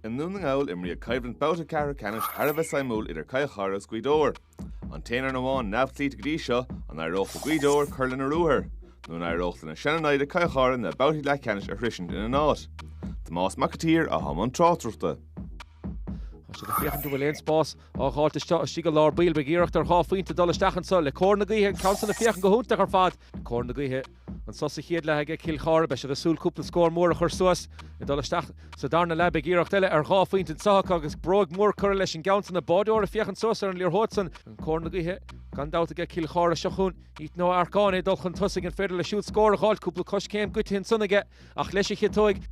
I nDún na nGall, imríodh coimhlint babhta ceathrú ceannais thar a bheith suimiúil idir Cill Chartha agus Gaoth Dobhair. An t-aon fhoireann amháin neamhchloíte go dtí seo, an éireodh le Gaoth Dobhair cur lena ruathar? Nó an éireodh lena seana-naimhde Cill Chartha na babhtaí leathcheannais a shroisint ina n-áit? Tomás Mac a tSaoir atá i mbun na tráchtaireachta. Tá siad ag féachaint an bhfuil aon spás á dh'fháilt istigh i lár baill. Beidh iarracht ar dhá phointe dul isteach anso le cóir na gaoithe. An ceann san ag féachaint go hiontach ar fad, cóir na gaoithe. Anso sa chéad leath aige Cill Chartha. Beidh siad ag súil cúpla scór mór a chur suas. Ag dul isteach sa darna leath beidh iarracht eile ar dhá phointe anso acu agus bróig mhór curtha leis an gceann san. An báideoir ag féachaint suas ar an liathróid san. An cóir na gaoithe gan dabht aige Cill Chartha seo chugainn. Ethan Ó h-Earcáin ag dul chun tosaigh. An féidir leis siúd scór a dh'fháilt? Cúpla coiscéim goidithe ansan aige ach leis a chiotóig.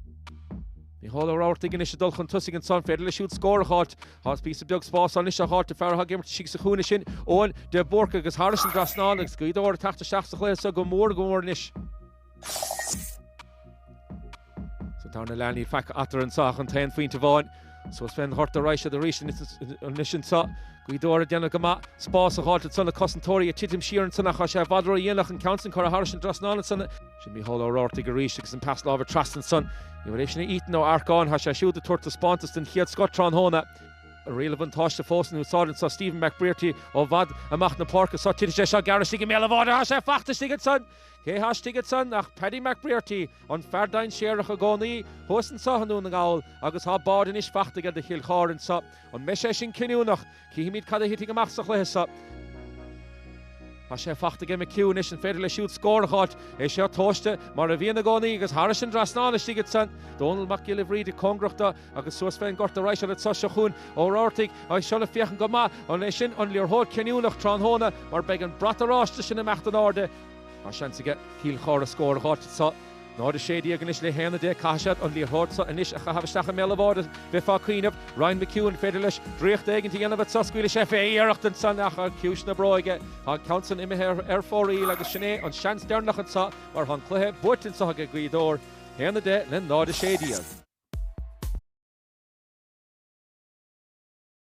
Mícheál Ó Rabhartaigh anois ag dul chun tosaigh anso. An féidir leis siúd scór a dh'fháilt? Tá píosa beag spáis anois á dh'fháilt, an fear atá ag imirt istigh sa chúinne sin, Eoghan de Búrca agus thairis an dtrasnán agus Gaoth Dobhair ag teacht isteach sa chluiche seo go mór go mór anois. Sa tarna leath níl faic eatarthu anseo ach an t-aon phointe amháin. Suas fén ngort a raghaidh siad arís anois anseo. Gaoth Dobhair ag déanamh go maith spás á dh'fháilt ansan le cosantóirí ag titim siar ansan ach tá sé i bhfad ródhéanach an ceann san a chur thairis an dtrasnán ansan. Sin Mícheál Ó Rabhartaigh arís agus an pas láimhe trasna ansan. An bhfuil sé sin ag Ethan Ó h-Earcáin, tá sé siúd ag tabhairt taispeántas den chéad scoth tráthnóna. Riail an bhuntáiste fós in úsáid anso, Stephen McBrearty ó bhfad amach na páirce anso, titfidh sé seo gearr istigh i mbéal an bháid, tá sé fachta istigh ansan. Cé tá istigh ansan ach Paddy McBrearty, an fear dainséarach i gcónaí thuas anso i nDún na nGall agus tá bád anois fachta aige do Chill Chartha anso. An mbeidh sé sin cinniúnach? Cífimid cad a thitfidh amach sa chluiche seo. Tá sé fachta aige McHugh anois, an féidir leis siúd scór a dh'fháilt? É seo tomhaiste, mar a bhíonn i gcónaí, agus thairis an dtrasnán istigh ansan. Dónall Mac Giolla Bhríde cóngarach do agus suas fén ngort a raghaidh siad anso. Seo chugainn Ó Rabhartaigh agus seo le féachaint go maith an é sin an liathróid cinniúnach tráthnóna mar beidh an brat oráiste sin ag imeacht in airde Tá seans aige Cill Chartha scór a dh'fháilt anso. 0, 16 anois le haon a deich. Caithfidh siad an liathróid so anois a chaitheamh isteach i mbéal a bháid. Bheifeá ag cuimhneamh. Ryan McHugh, an féidir leis draíocht éigint a dhéanamh anso? Scaoilfidh sé fé! Iarracht ansan ach ar chiumhais na bróige tá an ceann san imithe ar fóraoil agus sin é an seans deireanach anso mar tá an cluiche buaite anso age Gaoth Dobhair. 1, 10 le 0, 16.